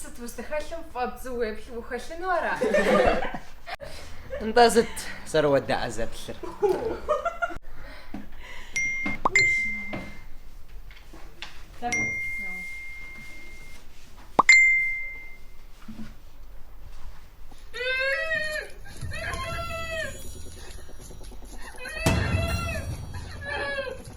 Сыт узыхэлъым фӏэ бзу уеплъу ухэлъыну ара? Нтӏэ сыт зэрыуэдаӏэ зэплъыр?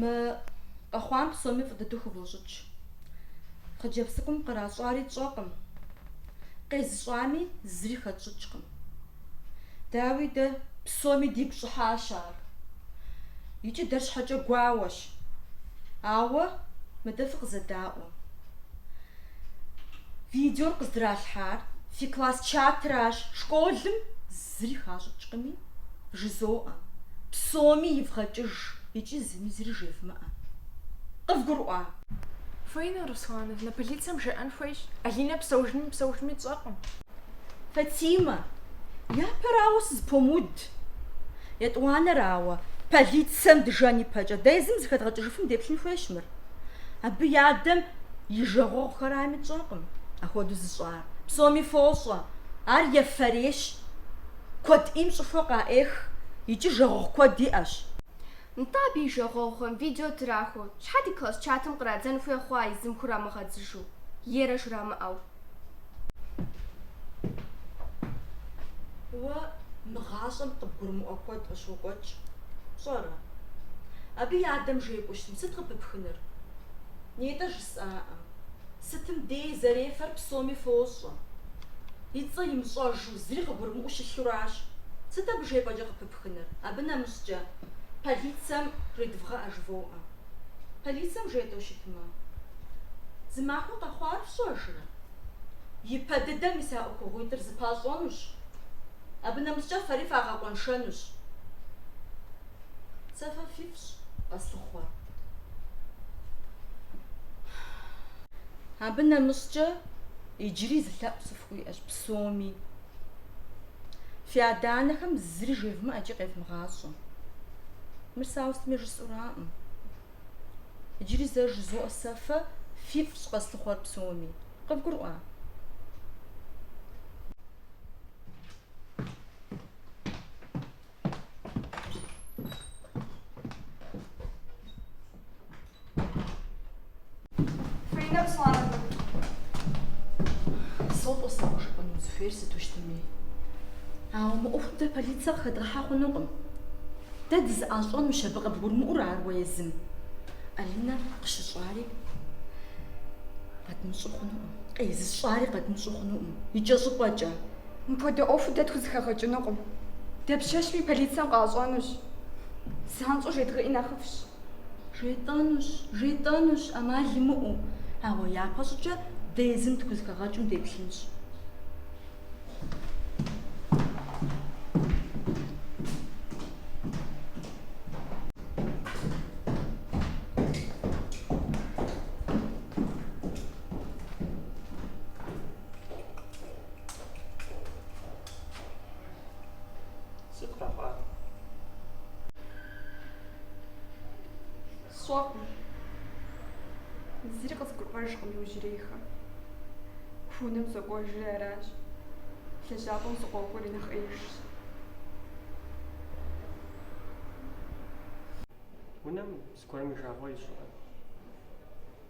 Мы къэхъуам псоми фӏы дыдэу хывощӏыкӏ. Хъыджэбз цӏыкӏум къращӏари тщӏэкъым, къезыщӏами зыри хэтщӏыкӏкъым. Дауи дэ, псоми дигу щӏыхьащ ар. Икӏи дэ щхьэкӏэ гуауэщ. Ауэ мыдэ фыкъызэдаӏуэ. Видеор къыздралъхьар фи класс чатращ, школым зыри хащӏыкӏкъыми, жызоӏэ, псоми ивгъэкӏыж икӏи зыми зыри жевмыӏэ. Къывгурыӏуа? Фаина Руслановна, полицэм жеӏэн хуейщ, Алинэ псэужми-мыпсэужми тщӏэркъым. Фатимэ, япэрауэ сызыпомыуд. Етӏуанэрауэ, полицэм дыжэн ипэкӏэ, дэ езым зыхэдгъэкӏыжыфым деплъын хуейщ мыр. Абы и адэм и жагъуэгъухэрами тщӏэркъым ахуэду зыщӏар. Псоми фощӏэ, ар ефэрейщ, куэд ӏейм щӏыхуэ къаӏех икӏи жагъуэгъу куэд иӏэщ. Нтӏэ, абы и жагъуэгъухэм видео трахуэу, щхьэ ди класс чатым кърадзэн хуей хъуа езым хурамыгъэдзыжу, ерэ жрамыӏэу? Уэ мы гъащӏэм къыбгурымыӏуэ куэд къыщокӏуэкӏ, пщӏэрэ? Абы и адэм жепӏэу щытмэ, сыт къыпыпхыныр? Нетӏэ жысӏаӏэ. Сытым дей зэрефэр псоми фощӏэ. И цӏэ имыщӏэжу, зыри къыгурымыӏуэу щылъуращ. Сыт абы жепӏэкӏэ къыпыпхыныр? Абы нэмыщӏкӏэ, полицэм жедывгъэӏэ жывоӏэ. Полицэм жетӏэу щытмэ, зымахуэ къэхъуар фщӏэжрэ? Ипэ дыдэ мис а ӏуэхугъуитӏыр зыпащӏэнущ. Абы нэмыщӏкӏэ фэри фагъэкъуэншэнущ. Сэ фэ фифщӏ, Къэслъыхъуэ. Абы нэмыщӏкӏэ иджыри зы лъэӏу сыфхуиӏэщ псоми. Фи адэ-анэхэм зыри жевмыӏэкӏи къевмыгъащӏэ. Мыр сэ ауэ сытми жысӏураӏым. Иджыри зэ жызоӏэ сэ фэ фифӏщ къэслъыхъуэр псоми. Къывгурыӏуа? Фринэ псалъэ. Содаӏуэ сэ къыжыпӏэну узыхуейр сыту щытми. Ауэ мы ӏуэхум дэ полицэ къыхэдгъэхьэ хъунукъым. Дэ дызэӏищӏэнущ абы, къыбгурымыӏуэрэ ар уэ езым. Алинэ къыщыщӏари къэдмыщӏэу хъунукъым. Къезыщӏари къэдмыщӏэу хъунукъым. Икӏэщӏыпӏэкӏэ. Мыпхуэдэ ӏуэху дэ тхузэхэгъэкӏынукъым. Дапщэщми полицэм къащӏэнущ. Занщӏэу жедгъэӏи нэхъыфӏщ. Жетӏэнущ, жетӏэнущ, ӏэмал имыӏэу. Ауэ япэщӏыкӏэ дэ езым тхузэхэгъэкӏым деплъынщ. Сщӏэркъым. Зыри къызгурыӏуэжкъым иужьрейхэм. Унэм сокӏуэжри аращ. Лэжьапӏэм сыкъокӏуэри нэхъ ӏеижщ. Унэм зыгуэрым уи жагъуэ ищӏрэ?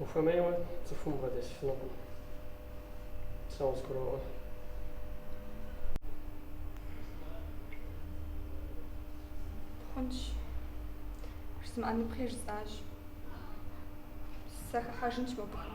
Ухуэмейуэ цӏыхум убгъэдэсыфынукъым. Сэ къызгуроӏуэ. Хъунщ. Жызмыӏэныпхъи жысӏащ. Сыхыхьэжынщ мобыхэм.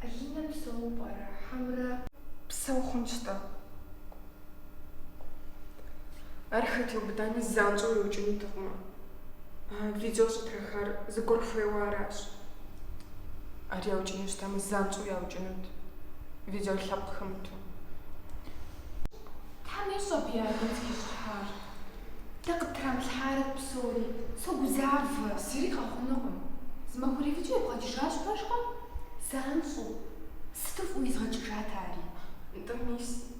Алинэ псэу пӏэрэ? Хьэмрэ? Псэу хъунщ-тӏэ. Ар хэт иубыдами, занщӏэу иукӏынутэкъымэ. Видео щӏытрахар зыгуэр хуейуэ аращ. Ар яукӏыну щытамэ, занщӏэу яукӏынут. Видео лъэпкъ хэмыту. Тхьэм ещӏэ абы я гум трищхьар. Дэ къыттрамылъхьарэт псори. Согузавэ. Зыри къэхъунукъым. Зымахуэрей видеор ибгъэкӏыжащ, пэжкъэ? Занщӏэу. Сыту фӏыуэ изгъэкӏыжат ари. Нтӏэ, мис.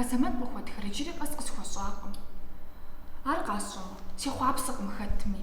Азэмэт къыхуэтхэр иджыри къэс къысхуэщӏакъым. Ар къасщӏэмэ, сехъуапсэкъым хэтми.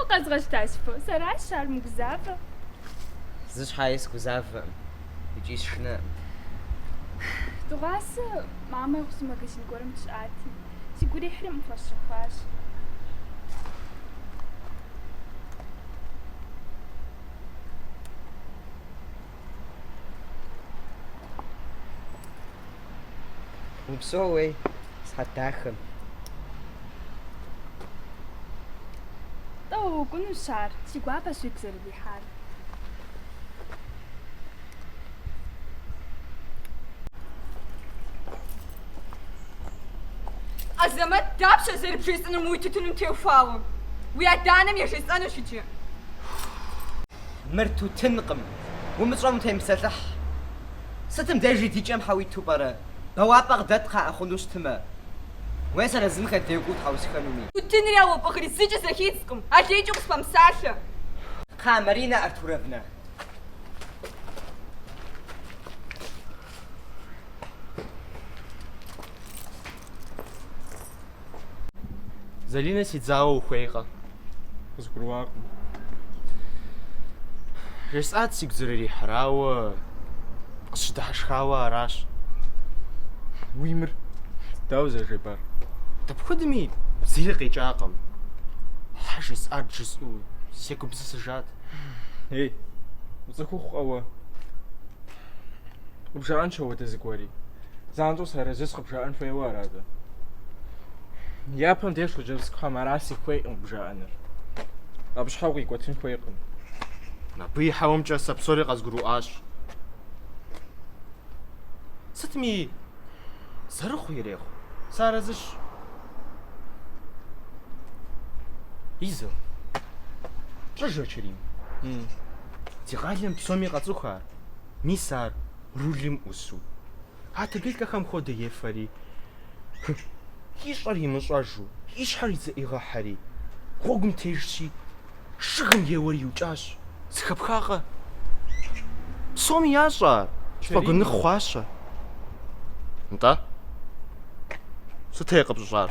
Укъэзгъэщта, си фо. Сэращ ар умыгузавэ. Зы щхьэи сгузавэкъым. Икӏи сшынэкъым. Дыгъуасэ мамэ и гъусэу магазин гуэрым сыщыӏати, сигу ирихьри мыр пхуэсщэхуащ. Упсэу уей схьэ дахэм. Тӏэуэ уэкӏунущ ар, си гуапэщ уигу зэрырихьар. Азэмэт, дапщэ зэрыбжесӏэнур уи тутыным теухуауэ? Уи адэ-анэм ежесӏэнущ иджы. Мыр тутынкъым, умыщӏэм утемыпсэлъыхь. Сытым дежи ди кӏэм щхьэ уиту пӏэрэ? Бэуапӏэ къыдэт кхъыӏэ хъуну щытымэ. Уей сэр езымхэ дей кӏуэуэ тхьэусыхэнуми. Тутынри а уэ пӏыгъри зыкӏэ зэхидзкъым, алейкӏэ укъыспэмыпсалъэ. Кхъыӏэ, Марина Артуровна. Залинэ си дзауэ ухуейкъэ? Къызгурыӏуакъым. Жесӏат сигу зэрырихьыр, ауэ къысщыдыхьэшхауэ аращ. Уи мыр дауэ зэрыжепӏар? Дапхуэдэми зыри къикӏакъым. Щхьэ жесӏат жысӏэу сегупсысыжат. Ей, уцӏыхухъукъэ уэ? Къыбжаӏэнщ апхуэдэ зыгуэри. занщӏэу сарэзыщ къыбжаӏэн хуейуэ арат. Япэм деж хъыджэбзхэм аращ сыхуейкъым къыбжаӏэнур. Абы щхьэ укъикӏуэтын хуейкъым. Абы и хьэуэмкӏэ сэ псори къэзгурыӏуащ. Сытми зэрыхъу ирехъу. Сарэзыщ. Изо. Пщӏэжрэ Чэрим. Ди къалэм псоми къацӏыху ар. мис ар рулым ӏусу. А таблеткэхэм хуэдэ ефэри, ищӏэр имыщӏэжу, и щхьэр идзэӏигъыхьэри, гъуэгум тежщи, жыгым еуэри иукӏащ, Сыхэпхакъэ? Псоми ящӏэ ар, сфӏэгуэныхъ хъуащэ. Нтӏэ, сытей къыпщыщӏар?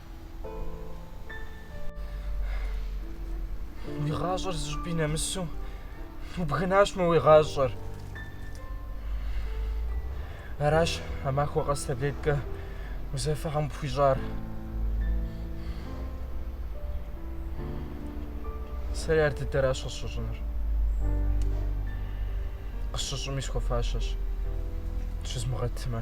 Уи гъащӏэр зы щӏыпӏи нэмысу убгынащ мы уи гъащӏэр. Аращ а махуэ къэс таблеткэ узэфэхьэм пхуищӏар. Сэри ар дыдэращ къысщыщӏынур. Къысщыщӏыми схуэфащэщ. Щызмыгъэтмэ.